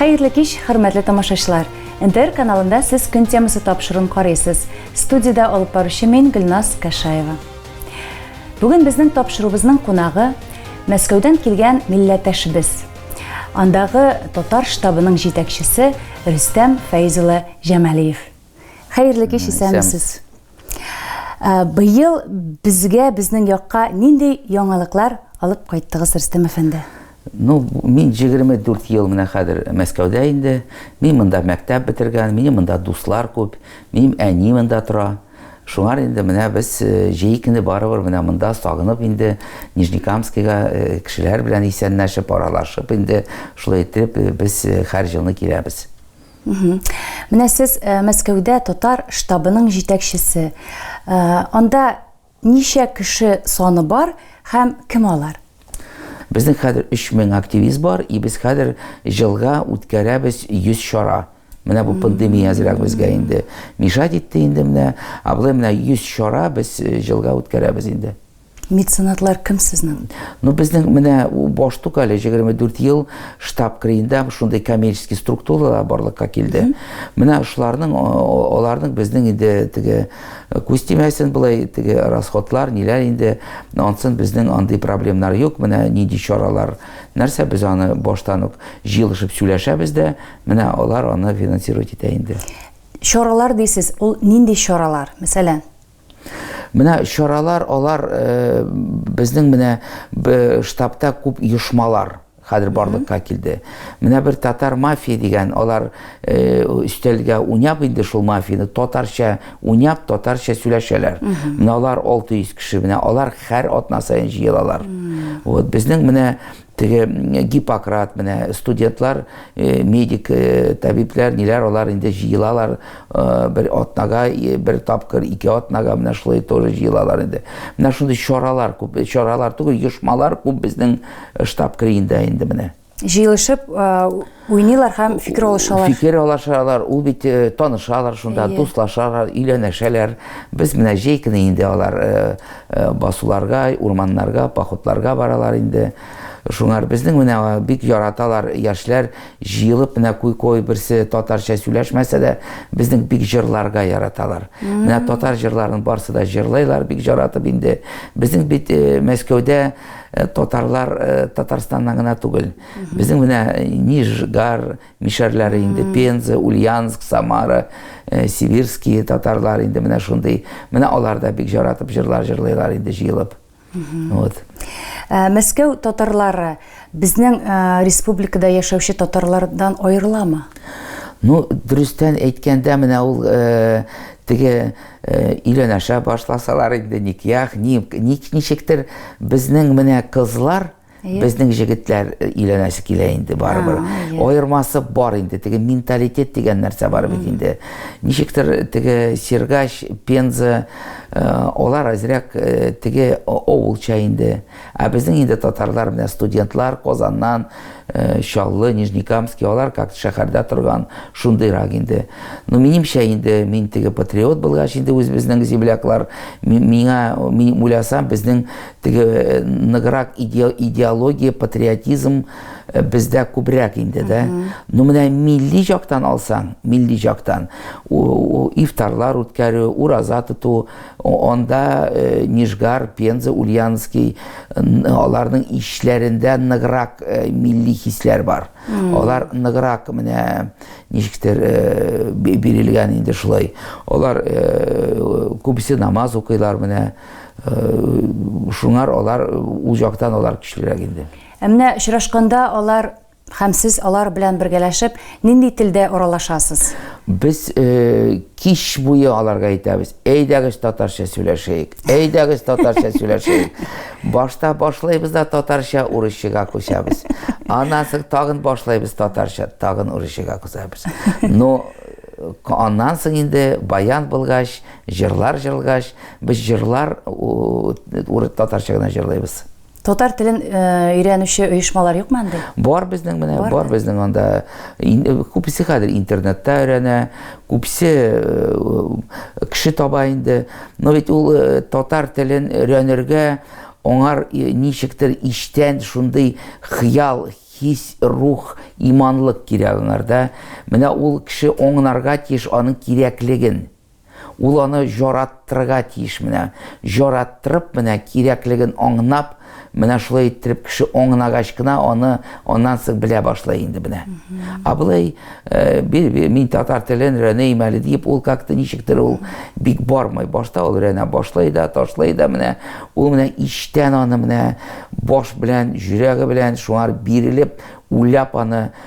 Хәерле кич, хөрмәтле тамашачылар! НТР каналында сез көн темасы тапшыруын карыйсыз. Студиядә алып баручы мин, Гөлназ Кәшаева. Бүген безнең тапшыруыбызның кунагы Мәскәүдән килгән милләттәшебез. Андагы татар штабының җитәкчесе Рөстәм Фәйз улы Җамалиев. Хәерле кич, исәнмесез. Ә, быел безгә, безнең якка нинди яңалыклар алып кайттыгыз, Рөстәм әфәнде? Ну, мин 24 ел менә хәзер Мәскәүдә инде. Мин монда мәктәп бетергән, минем монда дуслар күп, минем әни монда тора. Шуңар инде менә без э, җәй көне барыбер менә монда сагынып инде Нижнекамскига э, кешеләр белән исәнләшеп, аралашып инде шулай итеп э, без һәр җылны киләбез. Менә сез э, Мәскәүдә татар штабының җитәкчесе. Э, анда ничә кеше саны бар һәм кем алар? Безнең хәзер 3000 активист бар, и без хәзер җылга үткәрәбез 100 чара. Менә бу пандемия әзрәк безгә инде мешать итте инде менә, ә менә 100 чара без э, җылга үткәрәбез инде. Меценатлар кем сезнең? Ну, безнең менә баш тук әле 24 ел штаб криендә шундый коммерческий структуралар барлыкка килде. Менә шуларның аларның безнең инде теге э, күз тимәсен булай теге расходлар, ниләр инде ансын безнең андый проблемнар юк. Менә нинди чаралар, нәрсә без аны баштан ук җыелышып сөйләшәбез дә, менә алар аны финансировать итә инде. Чаралар дисез, ул нинди чаралар? Мәсәлән, Менә чаралар алар э, безнең менә штабта күп оешмалар хәзер барлыкка килде. Менә бер татар мафия дигән, алар э, өстәлгә уйнап инде шул мафияны татарча уйнап, татарча сөйләшәләр. Менә алар 600 кеше, менә алар һәр атна саен җыелалар. Вот безнең менә Теге Гиппократ менә студентлар, медик табибләр, ниләр алар инде җыелалар бер атнага, бер тапкыр, ике атнага менә шулай тоже җыелалар инде. Менә шундый чаралар күп, чаралар түгел, оешмалар күп безнең штаб криенда инде менә. Җыелышып, Уйныйлар һәм фикер алышалар. Фикер алышалар, ул бит э, танышалар шунда, yeah. дуслашалар, өйләнәшәләр. Без менә җәй көне инде алар э, э, басуларга, урманнарга, походларга баралар инде. Шуңар безнең менә бик яраталар яшьләр җыелып менә куй-куй берсе татарча сөйләшмәсә дә, безнең бик җырларга яраталар. Менә татар җырларын барсы да җырлайлар бик яратып инде. Безнең бит Мәскәүдә татарлар Татарстаннан гына түгел. Безнең менә Нижгар мишәрләре инде, Пенза, Ульяновск, Самара, э, Сибирские татарлар инде менә шундый. Менә алар да бик жаратып җырлар җырлыйлар инде җыелып. Вот. Э, Мәскәү татарлары безнең э, республикада яшәүче татарлардан аерыламы? Ну, дөрестән әйткәндә, менә ул э, теге э, өйләнәшә башласалар инде никях, ни, ни, ничектер безнең менә кызлар, Безнең җегетләр э, өйләнәсе килә инде барыбер. Аермасы бар инде. Теге менталитет дигән нәрсә бар бит инде. Ничектер э, теге Сергач, Пенза, э, алар әзрәк теге авылча инде. Ә безнең инде татарлар менә студентлар Казаннан, Чаллы, Нижнекамский, алар как шәһәрдә торган шундыйрак инде. Ну минемчә инде мин теге патриот булгач инде үзебезнең земляклар миңа мин уйласам безнең Теге э, ныграк идеология, патриотизм э, бездә күбрәк инде дә. Ну менә милли жактан алсаң, милли жактан ифтарлар үткәрү, ураза тоту, анда э, Нижгар, Пенза, Ульяновский аларның ишләрендә ныграк милли хисләр бар. Алар ныграк менә ничектер бирелгән инде шулай. Алар күбесе намаз укыйлар менә. Шуңар алар үз яктан алар көчлерәк инде. Ә менә очрашканда алар һәм сез алар белән бергәләшеп нинди телдә аралашасыз? Без э, кич буе аларга әйтәбез, әйдәгез татарча сөйләшәйек, әйдәгез татарча сөйләшәйек. Башта башлыйбыз да татарча урысчага күчәбез. Аннан соң тагын башлыйбыз татарча, тагын урысчага күчәбез. Но аннан соң инде баян булгач, Җырлар җырлгач, без җырлар уры татарча гына җырлыйбыз. Татар телен өйрәнүче оешмалар юкмы анда? Бар безнең менә, бар безнең анда. Күпесе хәзер интернетта өйрәнә, күпсе кеше таба инде. Но ведь ул татар телен өйрәнергә аңар ничектер иштән шундый хыял, хис, рух, иманлык кирәк аңарда. Менә ул кеше аңнарга тиеш аның кирәклеген. Ул аны жараттырырга тиеш менә. Жараттырып менә, кирәклеген аңнап, менә шулай иттереп кеше аңнагач кына аны аннан соң белә башлай инде менә. А былай э, мин татар телен өйрәнәйм әле дип, ул как-то ничектер ул бик бармый. Башта ул өйрәнә башлай да, ташлай да менә. Ул менә иштән аны менә баш белән, җөрәге белән шуңар бирелеп, уйлап аны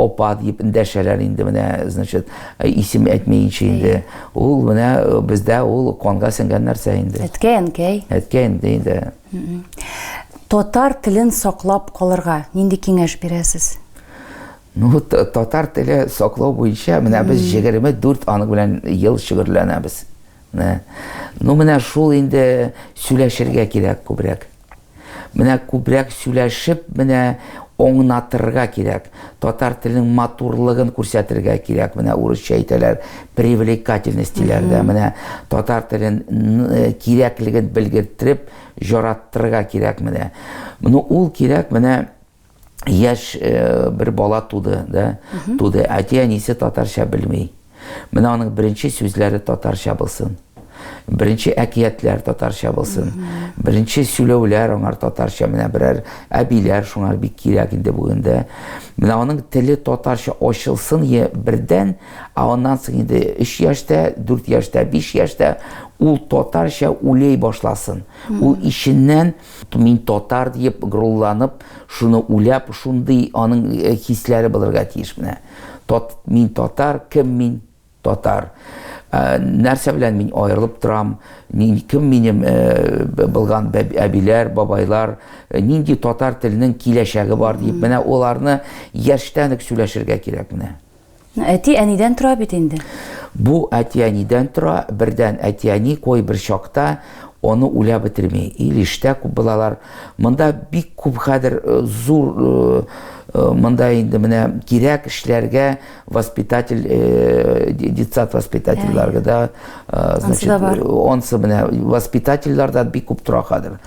Апа дип дәшәләр инде менә, значит, исем әйтмәенчә инде. Ул менә э, бездә ул канга сеңгән нәрсә инде. Әткәй, әнкәй. Әткәй инде инде. Татар телен саклап калырга нинди киңәш бирәсез? Ну, татар теле саклау буенча менә без 24 аның белән ел шөгерләнәбез. Ну менә шул инде сөйләшергә кирәк күбрәк. Менә күбрәк сөйләшеп, менә оңнатырга кирәк. Татар телен матурлыгын күрсәтергә кирәк. Менә урысча әйтәләр, привлекательность диләрдә. Менә татар телен э, кирәклеген белгерттереп, җараттырга кирәк менә. Ну ул кирәк менә яшь э, бер бала туды, да, туды. Әти әнисе татарча белми. Менә аның беренче сүзләре татарча булсын. Беренче әкиятләр татарча булсын. Беренче сөйләүләр аңар татарча. Менә берәр әбиләр шуңар бик кирәк инде бүген дә. Менә аның теле татарча ачылсын е бердән, а аннан соң инде 3 яшьтә, 4 яшьтә, 5 яшьтә ул татарча үлей башласын. Ул ишеннән Мин татар диеп горурланып, шуны уйлап, шундый аның хисләре булырга тиеш менә. Тат, мин татар, кем мин? Татар. Нәрсә белән мин аерылып торам? Мин кем минем булган әбиләр, бабайлар, нинди татар теленең киләчәге бар дип, менә оларны яшьтән үк сөйләшергә кирәк менә. Әти-әнидән тора бит инде. Бу әти-әнидән тора, бердән әти-әни кой бер чакта аны үлә бетерми. Ил иштә күп булалар. Монда бик күп хәзер э, зур э, э, монда инде менә кирәк эшләргә воспитатель детсад воспитательләргә да значит онсы менә воспитательләр дә бик күп тора хәзер.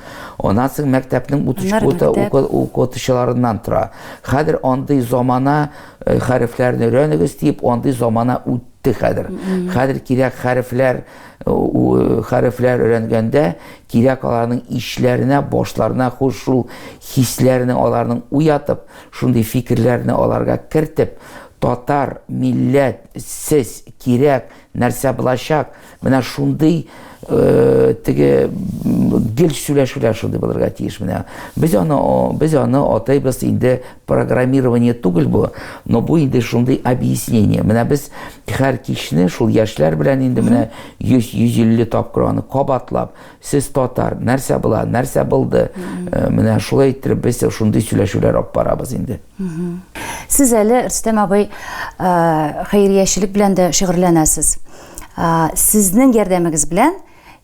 Аннан соң мәктәпнең утычкота укытучыларыннан тора. Хәзер андый замана Э, хәрефләрне өйрәнегез дип андый замана үтте хәзер хәзер кирәк хәрефләр э, хәрефләр өйрәнгәндә кирәк аларның ишләренә башларына хуш шул хисләрне аларның уятып шундый фикерләрне аларга кертеп татар милләт сез кирәк Нәрсә булачак? Менә шундый э, теге гел сөйләшүләр шундый булырга тиеш менә. Без аны без аны атыйбыз инде программирование түгел бу, но бу инде шундый объяснение. Менә без һәр кичне шул яшьләр белән инде менә 100-150 тапкыр аны кабатлап Сез татар, нәрсә була, нәрсә булды? Э, менә шулай иттереп без шундый сөйләшүләр алып барабыз инде. Сез әле Рөстәм абый э, хәйриячелек белән дә шөгырьләнәсез. Э, Сезнең ярдәмегез белән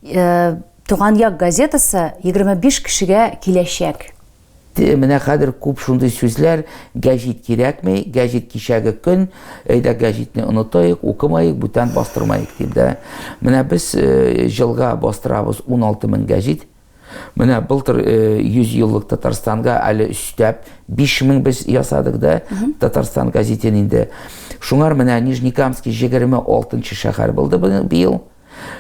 э, Туган як газетасы 25 кешегә киләчәк. Менә хәзер күп шундый сүзләр, гәҗит кирәкми, гәҗит кичәге көн, әйдә гәҗитне онытыйк, укымаек, бүтән бастырмаек дип дә. Менә без э, җылга бастырабыз 16 мең гәҗит. Менә былтыр 100 э, еллык Татарстанга әле өстәп 5 мең без ясадык да Татарстан газетен инде. Шуңар менә Нижнекамский 26 шәһәр булды быел.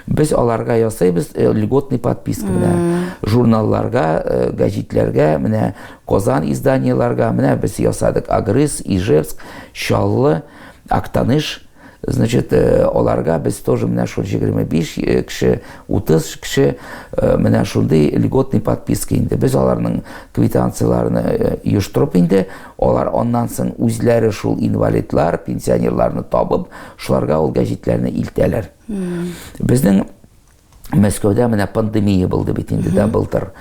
Без аларга ясыйбыз э, льготный подписка менә журналларга, э, гәҗитләргә, менә Казан изданиеләргә, менә без ясадык Агрыз, Ижевск, Чаллы, Актаныш. Значит, э, аларга без тоже менә шул 25 э, кеше, 30 кеше э, менә шундый льготный подписка инде. Без аларның квитанцияләрен оештырып инде Алар аннан соң үзләре шул инвалидлар, пенсионерларны табып, шуларга ул гәҗитләрне илтәләр. Безнең Мәскәүдә менә пандемия булды бит инде дә былтыр.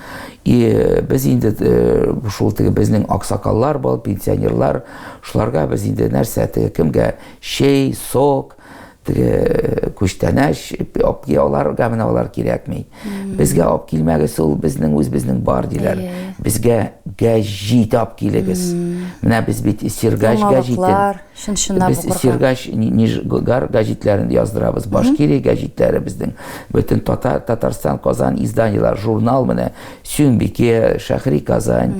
И э, без инде э, шул теге безнең аксакаллар бар, пенсионерлар, шуларга без инде нәрсә теге кемгә чәй, сок, теге күчтәнәч апки аларга менә алар кирәкми безгә алып килмәгез ул безнең үз безнең бар диләр безгә гәҗит алып килегез менә без бит сиргач гәҗитен без сиргач нижгар гәҗитләрен яздырабыз башкирия гәҗитләре безнең бөтен татар татарстан казан изданиелар журнал менә сюмбике шәхри казань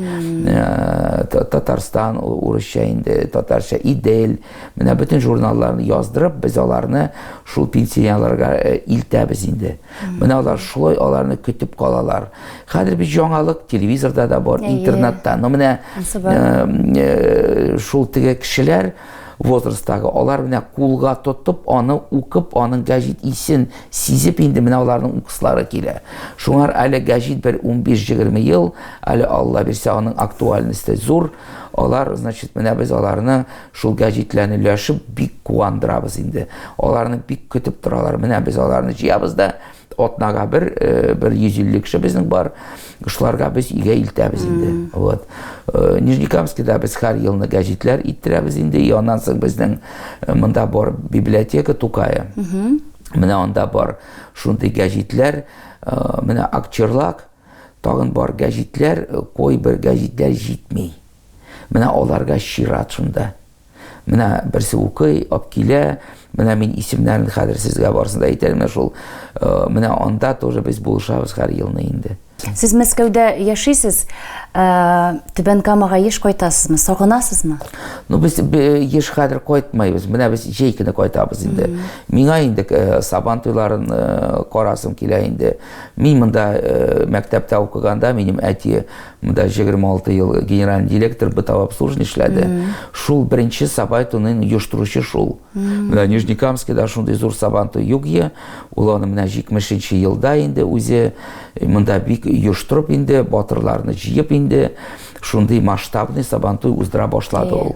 э, татарстан урысча инде татарча идель Менә бөтен журналларны яздырып, без аларны шул пенсионерларга э, илтәбез инде. Менә алар шулай аларны көтеп калалар. Хәзер бит яңалык телевизорда да бар, интернетта. Но менә э, шул теге кешеләр возрасттагы алар менә кулга тотып аны укып аның гәҗит исен сизеп инде менә аларның укыслары килә шуңар әле гәҗит бер 15-20 ел әле алла бирсә аның актуальности зур Алар, значит, менә без аларны шул гәҗитләрне өләшеп бик куандырабыз инде. Аларны бик көтеп торалар. Менә без аларны җыябыз да атнага бер э, бер 150 кеше безнең бар. Шуларга без игә илтәбез инде. Вот. Э, Нижнекамскида без һәр елны гәҗитләр иттерәбез инде. И аннан соң безнең э, монда бар библиотека Тукая. Менә анда бар шундый гәҗитләр, менә Акчерлак Тагын бар гәҗитләр, кайбер гәҗитләр җитми. Менә аларга чират шунда. Менә берсе укый, ап килә, менә мин исемнәрен хәзер сезгә барысын да әйтәлмә шул. Э, менә анда тоже без булышабыз һәр елны инде. Сез Мәскәүдә яшисез, э, Түбән Камага еш кайтасызмы, сагынасызмы? Ну без еш хәзер кайтмайбыз. Менә без җәй көне кайтабыз инде. Миңа инде э, Сабан туйларын карасым килә инде. Мин монда э, мәктәптә укыганда, минем әти монда 26 ел генеральный директор бытовобслуживание эшләде. Шул беренче сабай туның оештыручы шул. Менә Нижнекамскида шундый зур сабан туй юк е. Ул аны менә 70 елда инде үзе э, монда бик оештырып инде, батырларны җыеп инде, шундый масштабный сабан туй уздыра башлады ул.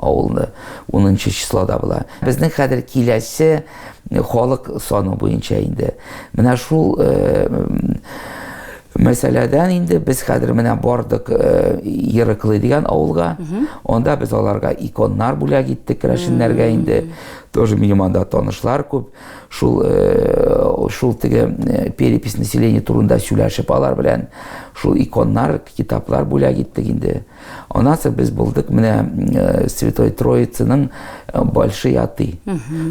Авылны унынчы числода була. Безнең хәзер киләсе халык саны буенча инде. Менә шул мәсьәләдән инде без хәзер менә бардык э, Ерыклы дигән авылга. Анда без аларга иконнар бүләк иттек керәшеннәргә инде. Тоже минем анда танышлар күп. Шул э, шул теге э, перепись населения турында сөйләшеп алар белән шул иконнар, китаплар бүләк иттек инде. Аннан соң без булдык менә э, Святой Троицының э, большой аты.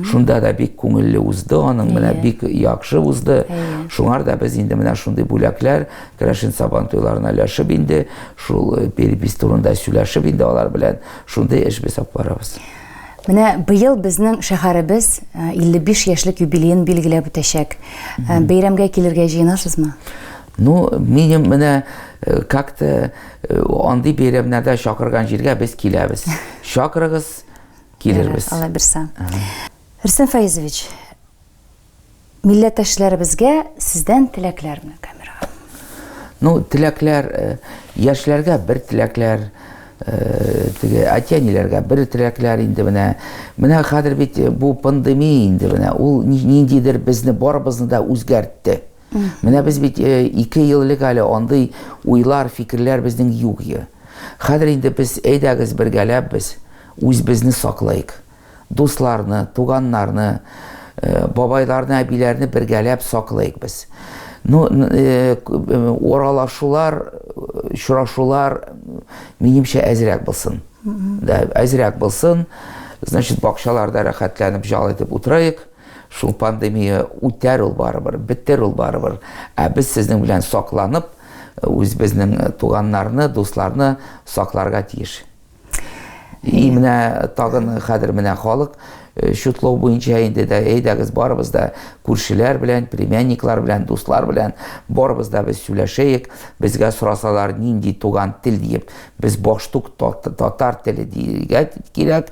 Шунда да бик күңелле узды, аның менә бик яхшы узды. Шуңар да без инде менә шундый бүләкләр Крашин Сабан туйларына өләшеп инде, шул э, перепись турында сөйләшеп инде алар белән шундый эш без алып барабыз. Менә быел безнең шәһәребез 55 яшьлек юбилеен билгеләп үтәчәк. Бәйрәмгә килергә җыенасызмы? Ну, минем менә э, как-то э, андый бәйрәмнәрдә чакырган җиргә без киләбез. Чакырыгыз, килербез. Алла бирсә. Рөстәм Фаизович, милләттәшләребезгә сездән теләкләр менә камерага. Ну, теләкләр э, яшьләргә бер теләкләр, теге әти-әниләргә бер теләкләр инде менә. Менә хәзер бит бу пандемия инде менә. Ул ниндидер безне барыбызны да үзгәртте. Менә без бит э, ике ел элек әле андый уйлар, фикерләр безнең юк иде. Хәзер инде без әйдәгез бергәләп без үзебезне саклыйк. Дусларны, туганнарны, э, бабайларны, әбиләрне бергәләп саклыйк без. Ну, э, оралашулар, очрашулар минемчә әзрәк булсын. Да, әзрәк булсын. Значит, бакчаларда рәхәтләнеп жал итеп утырыйк. Шул пандемия үтәр ул барыбер, бетер ул барыбер. Ә без сезнең белән сакланып, үзебезнең туганнарны, дусларны сакларга тиеш. И менә тагын хәзер менә халык э, чутлау буенча инде дә әйдәгез барыбыз да күршеләр белән, племянниклар белән, дуслар белән барыбыз да без сөйләшәек. Безгә сорасалар, нинди туган тел диеп, без баштук татар теле дияргә кирәк.